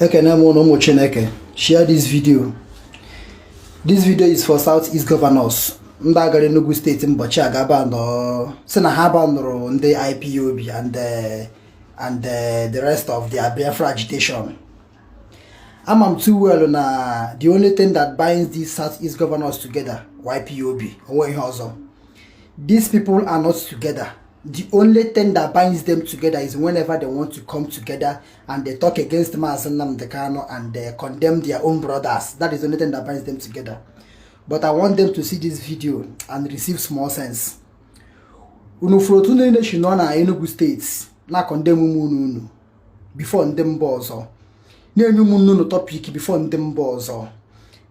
ekene m unu ụmụ chineke share this video this video is for south east governors ndị a gara enugu steeti mbọchị a gaa banụọ sị na ha banụrụ ndị ipob and eh, and eh, the rest of their biafra agitation ama m too well na the only thing that binds these south east governors together ipob o nweghị ihe ọzọ these people are not together the only thing that binds them together is whenever they want to come together and they talk against Mazi Nnamdi Kanu and they condemn their own brothers. That is the only thing that binds them together. But I want them to see this video and receive small sense. Unu fụrụ otu unu niile si nọ na Enugu steeti na-condemn ụmụnne unu before ndị mba ọzọ na-enye ụmụnne unu topic before ndị mba ọzọ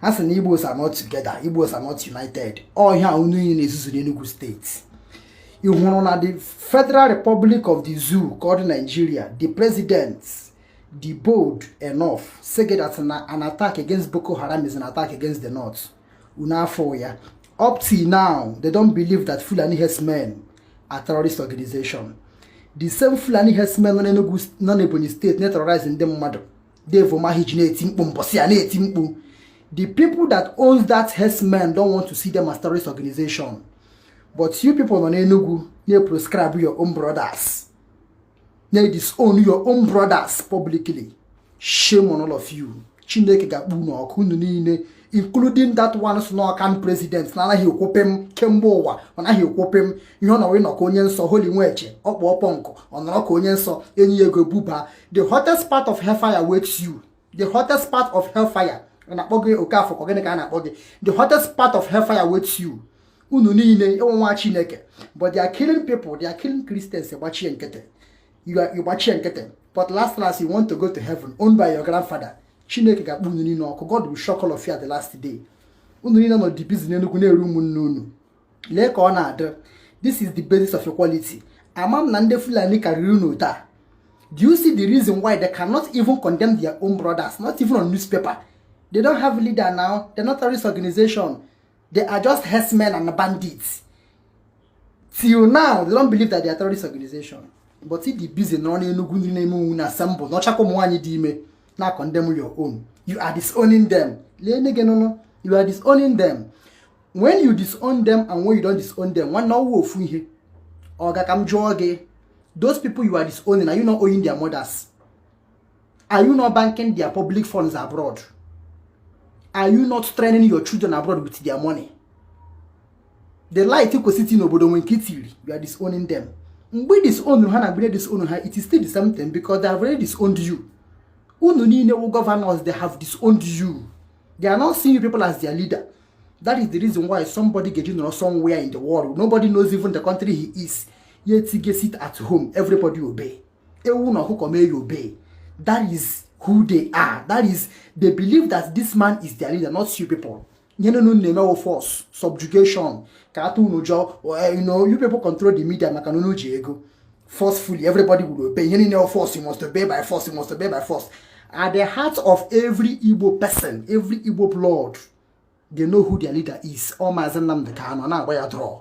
ha sị na Igbos are not together Igbos are not united ọ ihe a unu niile na-ezuzu n'Enugu steeti ị hụrụ na the Federal Republic of the Zoo called Nigeria the president dey bold enough say that na an attack against Boko Haram is an attack against the North unu afụ ya up till now they don't believe that Fulani herdsmen are terrorist organization the same Fulani herdsmen nọ n'Ebonyi steeti na-terrorize ndị mmadụ Dave Umahi ji na-eti mkpu mbọsị a na-eti mkpu the people that owns that herdsmen don't want to see them as terrorist organization but you people nọ n'Enugu na-proscribe your own brothers na-disown your own brothers publicly shame on all of you Chineke ga-akpọ unu ọkụ unu niile including that one sị na ọ can president na-anaghị ekwu pịm kemgbe ụwa ọ naghị ekwu pịm ihe ọ nọrọ ịnọ ka onye nsọ holy nweje ọkpụ ọkpọ nkụ ọ nọrọ ka onye nsọ e nye ya ego buba the hottest part of hellfire waits you the hottest part of hellfire ọ na-akpọ gị oke afọ ka gịnị ka a na-akpọ gị the hottest part of hellfire waits you unu niile ị wụ nwa chineke but they are killing people they are killing christians gbachie nkịtị you gbachie nkịtị but last last you want to go to heaven owned by your grandfather chineke ga-akpọ unu niile ọkụ god will shock all of you at the last day unu niile nọ dị busy n'enugwu na-ere ụmụnne unu lee ka ọ na-adị this is the basis of equality ama m na ndị fulani karịrị unu taa do you see the reason why they cannot even condemn their own brothers not even on newspaper they don't have leader now they're not terrorist organization they are just herdsmen and bandits till now they don't believe that they are terrorist organization but ị dị busy nọ n'enugwu ndị na-eme onwe unu na-assemble n'ọchakwa ụmụ nwaanyị dị ime na condemn your own you are disowning them lee nne gị nụnụ you are disowning them when you disown them and when you don't disown them nwanne ọwụ ofu ihe ọ ga ka m jụọ gị those people you are disowning are you not owing their mothers are you not banking their public funds abroad are you not training your children abroad with their money the light kwesịrị n'obodo nwe nke itiri you are disowning them mgbe ị disown ha na mgbe disown ha it is still the same thing because they have already disowned you unu niile wụ governors they have disowned you they are not seeing you people as their leader that is the reason why somebody ga-eji nọrọ somewhere in the world nobody knows even the country he is yet he gets sit at home everybody obey ewu na ọkụkọ mee ya obey that is who they are that is they believe that this man is their leader not you people ihe niile unu na-eme wụ force subjugation ka a tụọ unu ụjọ eh, you know you people control the media maka na unu ji ego forcefully everybody will obey ihe niile force you must obey by force you must obey by force at the heart of every Igbo person every Igbo blood they know who their leader is ọ maazị Nnamdi Kanu na-agba ya draw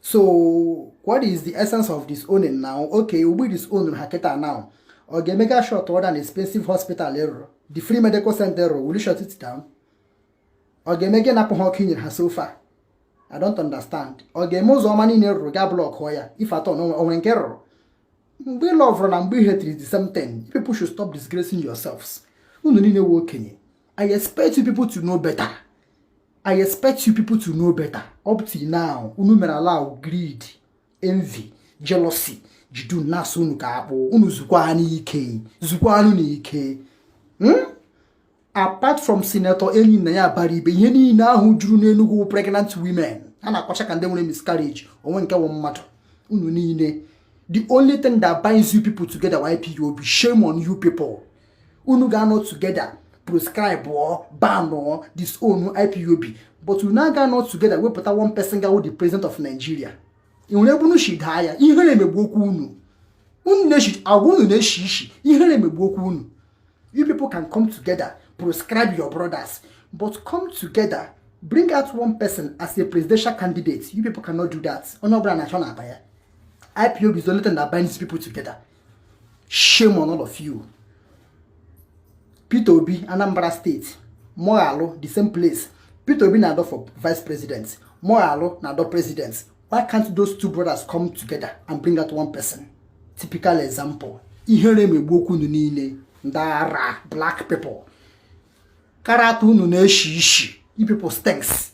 so what is the essence of disowning now okay ugbu disown ha kịta now ọ ga-eme ga shut down expensive hospital ị rụrụ the free medical center ị rụrụ will shut it down ọ ga-eme gị napụ ha ọkụ i nyere ha so far I don't understand ọ ga-eme ụzọ ọma niile ị rụrụ ga blọkụọ ya if at all na o nwere nke ị rụrụ mgbe ị lọvụrụ na mgbe ị hetiri the same thing people should stop disgracing yourselves unu niile wụ okenye I expect you people to know better. I expect you people to know better. Up to now, unu mere allow greed, envy, jealousy, jide unu na-asụ unu ka akpụ unu zukwaanụ ike zukwaanụ ike hmm? apart from senator Enyinnaya Abaribe ihe niile ahụ juru n'Enugu pregnant women a na-akwacha ka ndị nwere miscarriage o nweghị nke wụ mmadụ unu niile the only thing that binds you people together wụ IPOB shame on you people unu ga-anọ together proscribe or ban or disown ipob but unu agaghị anọ together wepụta one person ga-awụ the president of nigeria ị hụrụ ebe unu si daa ya ihere megbuokwa unu unu na-eshi agwa unu na-eshi ishi ihere megbuokwa unu you people can come together proscribe your brothers but come together bring out one person as a presidential candidate you people cannot do that onye ọbụla na-achọ na ọ bụ ya ipob is the only thing that binds people together shame on all of you Peter Obi Anambra steeti Moghalu the same place Peter Obi na-adọ for vice president Moghalu na-adọ president why can't those two brothers come together and bring out one person typical example ihere megbu okwu unu niile ndị ara black people karata unu na-eshi ishi you people stinks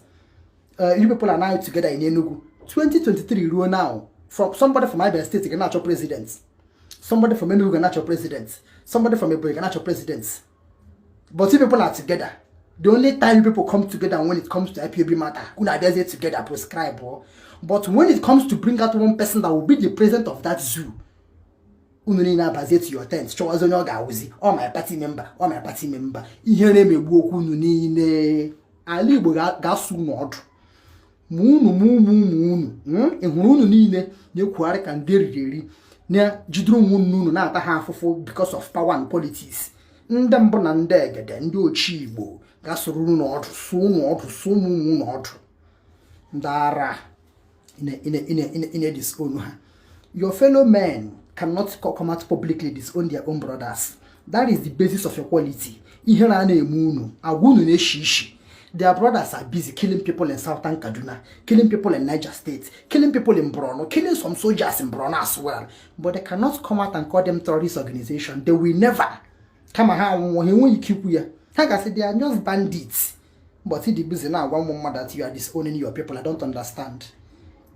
uh, you people are now together in Enugu 2023 ruo now from somebody from Abia State ga na-achọ president somebody from Enugu ga na-achọ president somebody from Ebonyi ga na-achọ president but you people are together the only time you people come together when it comes to IPOB matter unu abịazie together prescribe oh. but when it comes to bring out one person that will be the president of that zoo unu niile abazie to your tent chọwazi onye ọ ga-awụzi ọ my party member ọ my party member ihere megbuokwa unu niile ala igbo ga-asụ unu ọdụ ma unu ma ụmụ ụmụ unu hmm? ị hụrụ unu niile na-ekwugharị ka ndị e riri eri na-ejidere ụmụnne unu na-ata ha afụfụ because of power and politics ndị mbụ na ndị egede ndị ochie igbo ga-asụrụ unu ọdụ sụ unu ọdụ sụ ụmụ ụmụ unu ọdụ ndị ara ị na-edisown ha your fellow men cannot come out publicly disown their own brothers that is the basis of your quality ihere a na-eme unu agwa unu na-eshi ishi their brothers are busy killing people in southern kaduna killing people in niger state killing people in borno killing some soldiers in borno as well but they cannot come out and call them terrorist organization they will never kama ha anwụnwụ ha enweghị ike ikwu ya ha gasị they are just bandits but the busy now one more mother that you are disowning your people i don't understand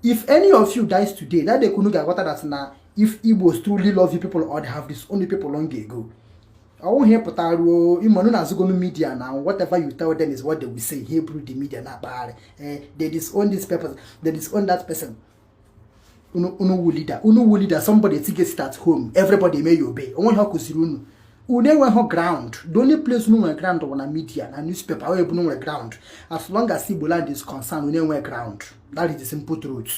if any of you dies today that they couldn't get water that now if igbos truly love you people or they have disowned people long ago ọwụ ihe pụtara ruo ịmanụ na azụgonu media na whatever you tell them is what they will say hebrew the media na-akpagharị eh, they disown this person they disown that person unu wụ leader unu wụ leader somebody tige sit at home everybody eme ya obey o nwere ihe ọ kụziri unu unu enweghị ground the only place unu nwere ground bụ na media na newspaper ebe unu nwere ground as long as Igbo land is concerned unu enweghị ground that is the simple truth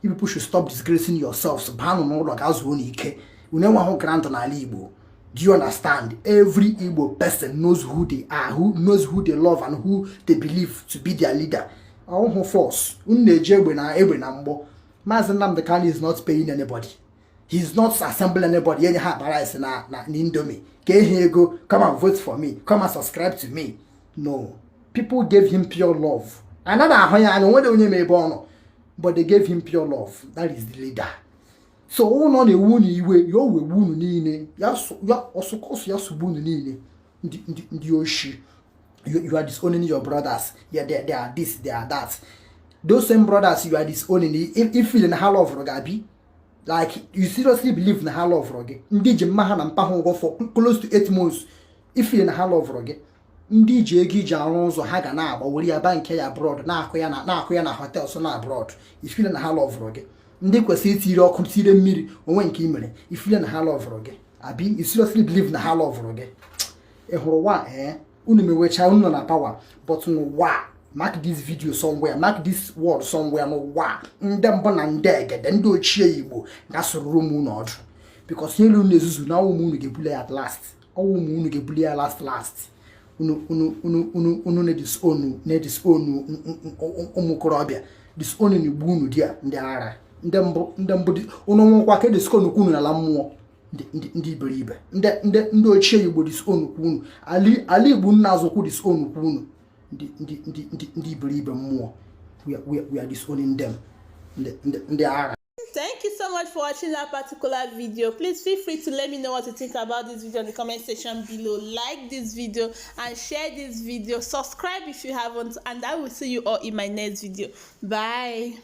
you people should stop disgracing yourselves baanụ n'ụlọ ga zuonụ ike unu enweghị ground n'ala Igbo do you understand every Igbo person knows who they are who knows who they love and who they believe to be their leader ọ wụghị force unu na-eji egbe na egbe na mgbọ maazị Nnamdi Kanu is not paying anybody he is not assembling anybody enye ha akpa rice na na Indomie kee ha ego come and vote for me come and subscribe to me no people gave him pure love anaghị ahụ ya anya o nweghị onye ma ebe ọ nọ but they gave him pure love that is the leader so ọ bụrụ ọ na-ewe unu iwe ya wee unu niile ya ọsụkọsụ ya sụgbuo unu niile ndị oshi you, you are disowning your brothers yeah, they, they are this they are that those same brothers you are disowning i feel na ha lọvụrụ gị abi like you seriously believe na ha lọvụrụ gị ndị ji mma ha na mpa ha ụgwọ for close to eight months i feel na ha lọvụrụ gị ndị ji ego e ji arụ ụzọ ha ga na-agba were ya bank ya abroad na-akụ ya na-akụ ya na hotels na abroad i feel na ha lọvụrụ gị ndị kwesịrị itiri ọkụ tire mmiri o nwe nke e mere i feel na ha lọvụrụ gị abi you seriously believe na ha lọvụrụ gị ị hụrụ wa ee unu mewecha unu nọ na power but n'ụwa mark this video somewhere mark this word somewhere n'ụwa ndị mbụ na ndị egede ndị ochie igbo ga-asụrụrụ m unu ọdụ because ihe unu na-ezuzu na ọ wụ m unu ga-ebuli ya at last ọ wụ m unu ga-ebuli ya last last unu unu unu unu unu na-edisown na-edisown ụmụ okorobịa disown na igbu unu di ya ndị ara ndị mbụ ndị mbụ unu nwụkwa ka e disownkwu unu n'ala mmụọ ndị iberibe ndị ochie igbo disownkwu unu ala igbo nna azụkwụ disownkwu unu ndị iberibe mmụọ we are disowning them ndị ara Thank you so much for watching that particular video. Please feel free to let me know what you think about this video in the comment section below. Like this video and share this video. Subscribe if you haven't and I will see you all in my next video. Bye.